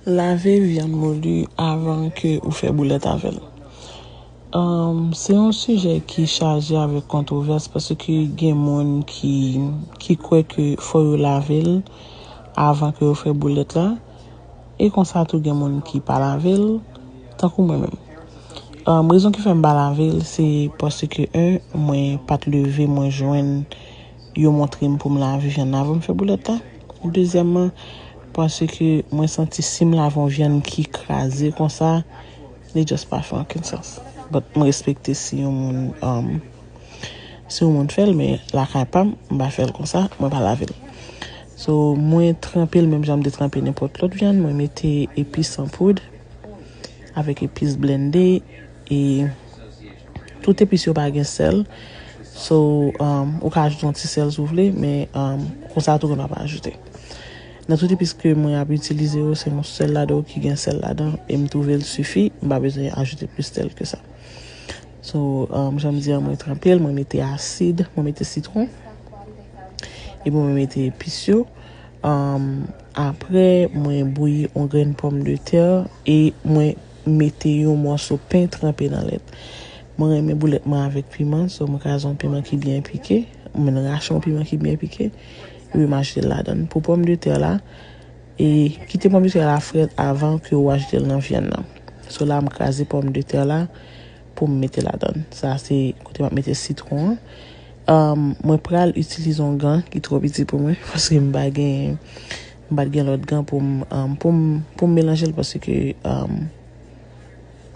Lave vyann moulu avan ke ou fè boulèt avèl. Umm se yon sijè ki chaje avèk kontwovès paske gen moun ki ki kwè ke fò yo lavel avan ke yo fè boulèt la e konsa tou gen moun ki pa lavel tankou mwen menm. Umm rezon ki fèm pa lavel se paske 1 mwen pat leve mwen jwenn Yo montre m pou m lave vyann avan m fè boulèt la. Dezyèmman, paske mwen santi si m lave yon vyann ki kraze konsa, li just pa fè okenn sans. But m respekte si yon moun um, si yon moun fè l men lakay pa m, m pa fè l konsa, mwen pa lave l. So, mwen tranpe l menm jan m te tranpe nenpòt lòt vyann, mwen mete epis an poud avèk epis blende. E tout epis yo pa gen sèl. So, ou ka ajoute yon ti sèl si w vle, men konsa tou gen pa pa ajoute. Nan tout epis ke mwen ap itilize yo, se yon sèl ladan yo ki gen sèl ladan l. E m twouve l sifi, m pa bezwen ajoute plis sèl ke sa. So, jan m di an, mwen tranpe l, mwen mete asid, mwen mete sitwon. Epi mwen mete epis yo. Apre, mwen bouyi yon grenn pòm de tè e mwen mete yon mòso pen tranpe nan lèt. Mwen renmen boulèt mwen avèk piman, so mwen kraze yon piman ki byen pike, mwen rache yon piman ki byen pike, epi m ajoute l ladan l. Pou pòm de tè la, e kite pòm de tè la frèt avan ke ou ajoute l nan vyann nan. So la m kraze pòm de tè la pou m mete ladan l. Sa se kote m ap mete sitwon an. Mwen pral itilize yon gan ki twò piti pou mwen paske m pa gen. M pat gen lòt gan pou m pou m pou m melanje l paske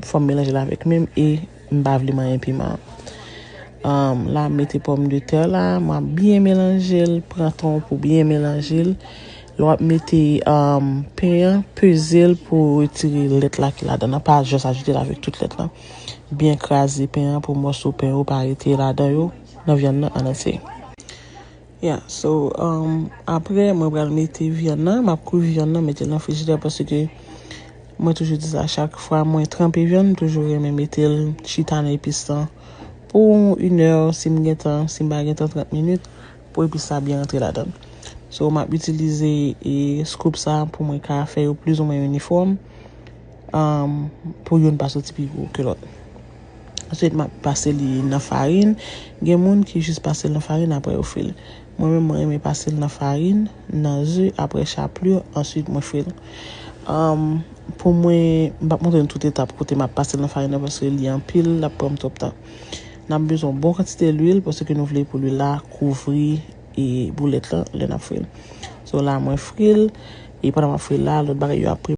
fò m melanje l avèk men m e m pa vle manyen piman an. La m mete pòm de tè la, m ap byen melanje l, pran tan w pou byen melanje l. Lè w ap mete pen an, peze l pou w retire lèt la ki ladan nan, pa jès ajoute l avèk tout lèt lan. Byen kraze pen an pou mòso pen yo pa rete ladan yo nan vyann nan an antye. Yeah so aprè mwen pral mete vyann nan map kwi vyann nan metel nan frijidè paske mwen toujou di sa chak fwa mwen tranpe vyann toujou renmen metel chita nan epis lan pou une heure sim gen tan sim pa gen tan 30 minutes pou epis sa byen rantre ladann so map itilize e scoop sa pou mwen ka fè yo plizoumwen inifòm pou youn pa soti pi gwo ke lòt. Answit map pase li nan farin, gen moun ki jis pasel nan farin aprè yo fril. Mwen menm mwen renmen pasel nan farin, nan ze aprè chaplur answit mwen fril. Umm pou mwen m pap montre nou tout etap kote map pasel nan farin nan paske li anpil lap pranm twòp tan. Nap bezwen yon bon kantite lwil paske nou vle pou lwil la kouvri e boulèt lan lè nap fril. So la mwen fril e pandan map fril la lòt bagay yo ap pre.